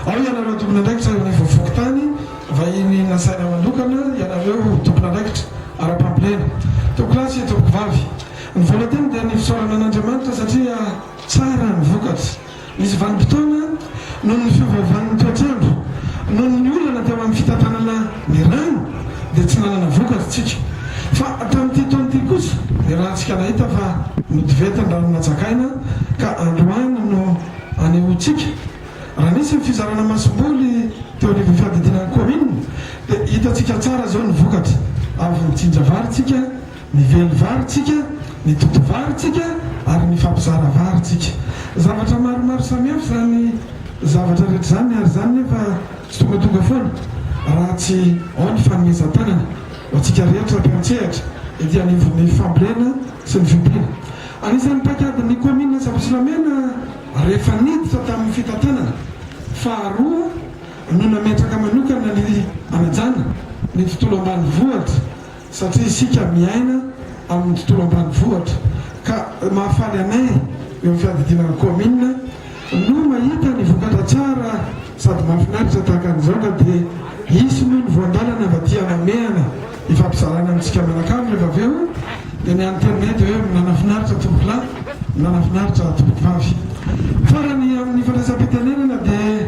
Ao ianareo tompon'andraikitra eo ivo fokontany vahiny nasaina manokana ianareo tompon'andraikitra ara-pambolena. Tompoko lahy sy tompoko vavy. Ny vola teny dia ny fisaorana an'Andriamanitra satria tsara ny vokatra. Nisy vanim-potoana noho ny fiovaovan'ny toetr'andro, noho ny olana teo amin'ny fitantanana ny rano dia tsy nanana vokatra tsika. Fa tamin'ity taona ity kosa dia raha tsika nahita fa notivetin-dRanomanjakaina ka androany no. Anehoantsika, raha nisy ny fizarana masomboly teo anivon'ny fiadidiana ny kaominina dia hitantsika tsara izao ny vokatra, avy ny jinja varintsika, ny vely varintsika, ny toto varintsika ary ny fampizara varintsika. Zavatra maromaro samihafa izany zavatra rehetra izany ary izany nefa tsy tongatonga foana raha tsy ao ny fanomezan-tanana ho antsika rehetra mpiantsehatra ety anivon'ny fambolena sy ny fiompiana. Anisan'ny paikadin'ny kaominina Antsabotsilamena rehefa niditra tamin'ny fitantanana faharoa no nametraka manokana ny hanajana ny tontolo ambanivohitra satria isika miaina amin'ny tontolo ambanivohitra ka mahafaly anay eo amin'ny fiadidiana ny kaominina Vonoy mahita ny vokatra tsara sady mahafinaritra tahaka an'izao ka dia hisy noho ny voandalana mba tia mamehana hifampizarana amintsika mianakavy rehefa avy eo dia ny any teny mety hoe minanafinaritra tompokolahy minanafinaritra tompokovavy farany amin'ny fandraisam-pitenenana dia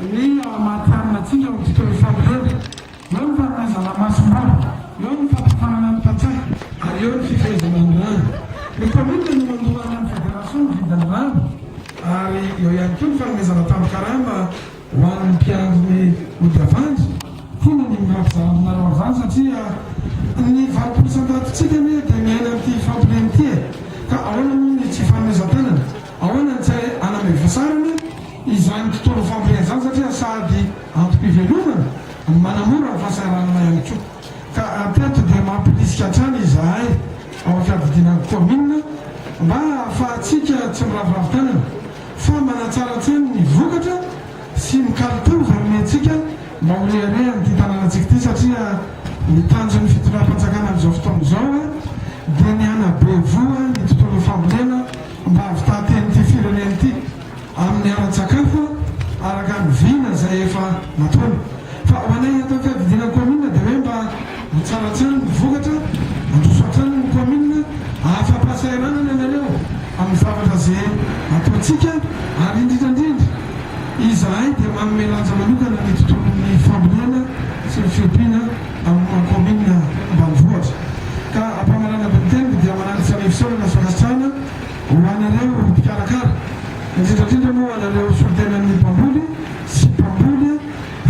Eo ny ao Amatianina antsika ao Tsitorisady eo, eo ny farana Zalamasimbaho, eo ny fampiofanana ny mpantsaka ary eo ny fifehezana ny rano. Ny kaominina no mandoa any amin'ny federasiona ny vidin'ny rano ary eo ihany koa ny fanomezana tambin-karama ho an'ny mpiandry ny ody avandry. Tiana ny mirary zara aminareo amin'izany satria ny valopolo isan-tatontsika anie dia miaina amin'ity fampiriana ity e! Ka ahoana moa ny tsy fanomezan-tanana? Ahoana ny tsy hanamevasarana izany tontolo fampian-jaza satria sady antom-pivelomana no manamora ny fahasahiranana ihany koa. Ka hatreto dia mampirisika hatrany izahay ao amin'ny fiadidiana ny kaominina mba hahafahantsika tsy miraviravy tanana fa manatsara hatrany ny vokatra sy ny kalitao izay omentsika mba ho reharehan'ity tanànantsika ity satria ny tanjon'ny fitondram-panjakana amin'izao fotoana izao dia ny hanabe voa ny tontolon'ny fambolena mba havitan-teny ity firenena ity amin'ny ara-tsakafo araka ny vina izay efa nataony fa ho anay eto am-piadidiana kaominina dia hoe mba ho tsara hatrany ny vokatra handroso hatrany ny kaominina ahafa-pahasahiranana ianareo amin'ny zavatra izay ataontsika ary indrindra indrindra izahay dia manome lanja manokana ny tontolon'ny fambolena sy ny fiompiana amin'ny kaominina ambanivohitra ka ampamanana be ny teniko dia manaly fanifisaorana sy fankasitrahana ho anareo mpikarakara indrindra indrindra moa anareo solontenan'ny mpamboly sy mpamboly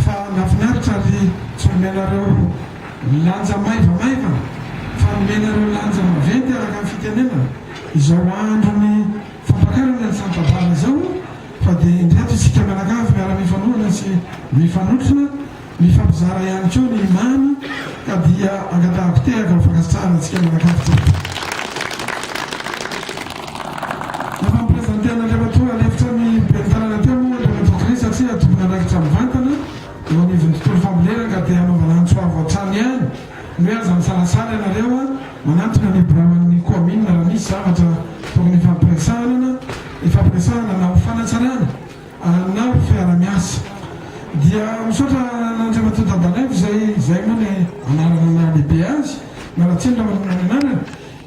fa nafinaritra ary tsy nomenareo lanja maivamaiva fa nomenareo lanja maventy araka ny fitenenana izao andron'ny fampakarana ny sampabary izao fa dia indreto isika mianakavy miara-mifanohana sy mifanotrona Mifampizara ihany koa ny mamy ka dia angatahako tehaka ho fankasitrahana antsika mianakavy jiaby. Nampamipresenten'i Andriamatoa lefitra ny Ben'ny Tanàna teo moa Andriamatoa Chris satria tompon'andraikitra mivantana eo anivon'ny tontolo fambolena ka dia hanaovana antso avo hatrany ihany hoe aza misalasala ianareo a, manantona ny biraon'ny Koaminina raha misy zavatra tokony hifampiresahanana, hifampiresahana na ho fanatsarana Ana fiara miasa. Dia misaotra an'Andriamatoa Dabanaivo izay izay moa ny anarana naha lehibe azy, mialatsiny raha manonona ny anarany,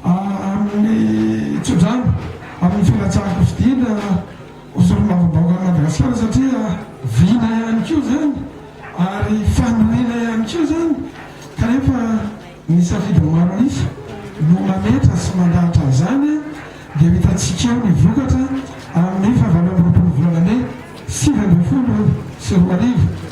amin'ny tsodrano amin'ny filatsahako fidina ho solombavambahoaka an'i Madagasikara satria vina ihany koa izany ary fandoniana ihany koa izany kanefa ny safidin'ny maro an'isa no mametra sy mandahatra an'izany dia ho hitantsika eo ny vokatra amin'ny fahavalo amby roapolo volana mey sivy ambin'ny folo sy roa arivo.